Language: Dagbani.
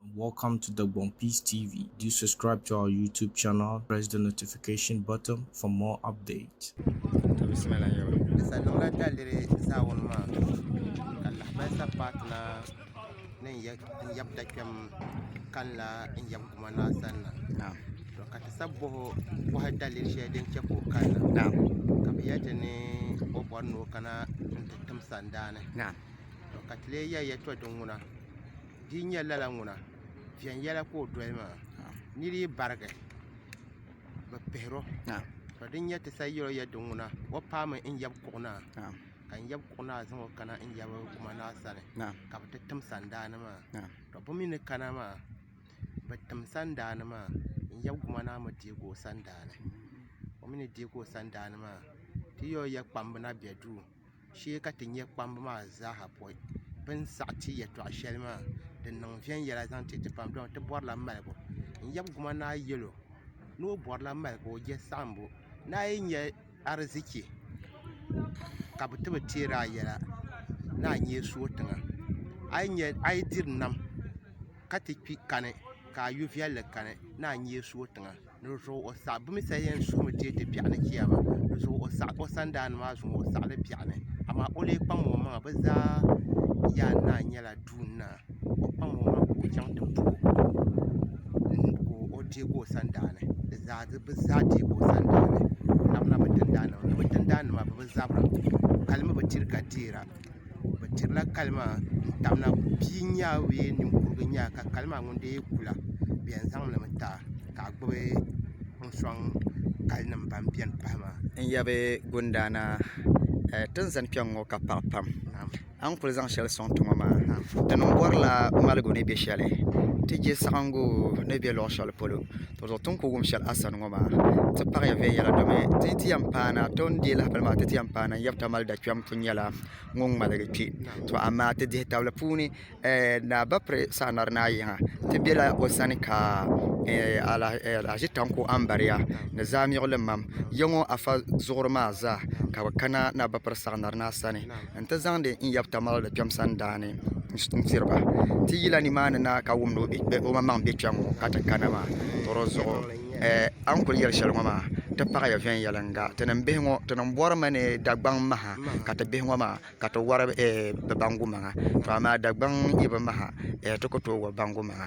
Welcome to Dagbon Peace TV, do subscribe to our YouTube channel, press the notification button for more updates. to bisimila n yɛba Salonga daliri zaawuni maa ka lahabali sa patina ni n yɛ- n yɛbi da kpɛm kanila n yɛbi guma naa sanna naam to ka ti sa boho bohi daliri shɛli din chɛ ka o kanna naam ka bi yɛ ti ni o bɔri ni o kana n ti tim sandaani naam to ka ti lee yɛ yɛtɔ din ŋuna di yi nyɛ lala ŋuna viɛnyɛla ka o doli maa ni di yi barigi bi pihiro ka din nyɛ ti sa yɛro yɛ din ŋuna o paami n yab kuɣu naa ka n yab kuɣu naa zaŋ o kana n yabi o ma naa sani ka bi ti tim sandaani maa ka bi mii ni kana maa bi tim sandaani maa n yab kuɣu naa mi deegi o sandaani o mii ni deegi o sandaani maa ti yɛro yɛ kpamba na bɛ duu shee ka ti nyɛ kpamba maa zaaha pɔi bɛ ni saɣi ti yɛltɔɣ shɛli maa din niŋ viɛnyɛla zaŋ ti ti pam dama ti bɔrila maligu n-yab guma ni a yɛl o ni o bɔrila maligu o je saɣimbu ni a yi nya arizichi ka bɛ ti bi teer a yɛla ni a nyee sooi tiŋa a yi diri nam ka ti kpi kani ka a yo viɛlli kani ni a nyee sooi tiŋa dizuɣu o saɣi bɛ mi saha yɛn suumi deei ti biɛɣuni jia maa dizuɣu o saɣi o sandaan maa zuŋu o saɣi li biɛɣuni amaa o lee kpaŋmi o maŋa bɛ zaa yaan naa nyɛla duun naa o kpaŋmi o maŋa ka o chaŋ ti bo o ka o deegi o sandaani bɛ zaa deegi o sandaani bɛ labila bɛ tindaannim ni bɛ tindaannim maa bɛ bi zabira hali mi bi diri ka deera bi dirila kali maa n tabina bia n nyɛ bee ninkurigu n nyɛ ka kali maa ŋun dii ku la bi yɛn zaŋ limi taba ka a gbubi n sɔŋ kali nim ban bɛni pahi maa. N yabi gundaana ti ni zani kpɛŋŋo ka paɣa pam a ni ku zaŋ shɛli sɔŋ ti ŋɔ maa di ni bɔrila maligu ni bɛ shɛli ti chɛ saɣangu ni bɛ luɣu shɛli polo Ti zuɣu ti ni ku wum shɛli a sani ŋɔ maa, ti paɣiya viɛnyɛla domi ti yi ti yɛn paai na, ti ni deei lahibali maa ti ti yɛn paai na n-yab Tamale Dakpɛm kuli nyɛla ŋun ŋmaligi kpe. To amaa ti dihitabli puuni ɛɛh Naa Bapre Saanari Naa Yiŋa ti bela o sani ka ɛɛh Alhaji Tanko Ambariya ni Zaamiɣilim mam yiŋɔ Afa Zuɣuri maa zaa ka bɛ kana Naa Bapre Saanari Naa sani. n ti zaŋdi n yab tamali kpɛm sandaani n tiri ba ti yi yila nimaani na ka wumdi o maŋmaŋ bɛ kpɛŋ ŋo ka ti kana maa ka di zuɣu a ni kuli yɛli shɛli ŋo maa ti paɣaya viɛnyɛlinga ti ni bihi ŋo ti ni bori mi ni dagbaŋ maha ka ti bihi ŋo maa ka ti wori bi bangu maŋa to amaa dagbaŋ yi bi maha ti ku tooi wori bangu maŋa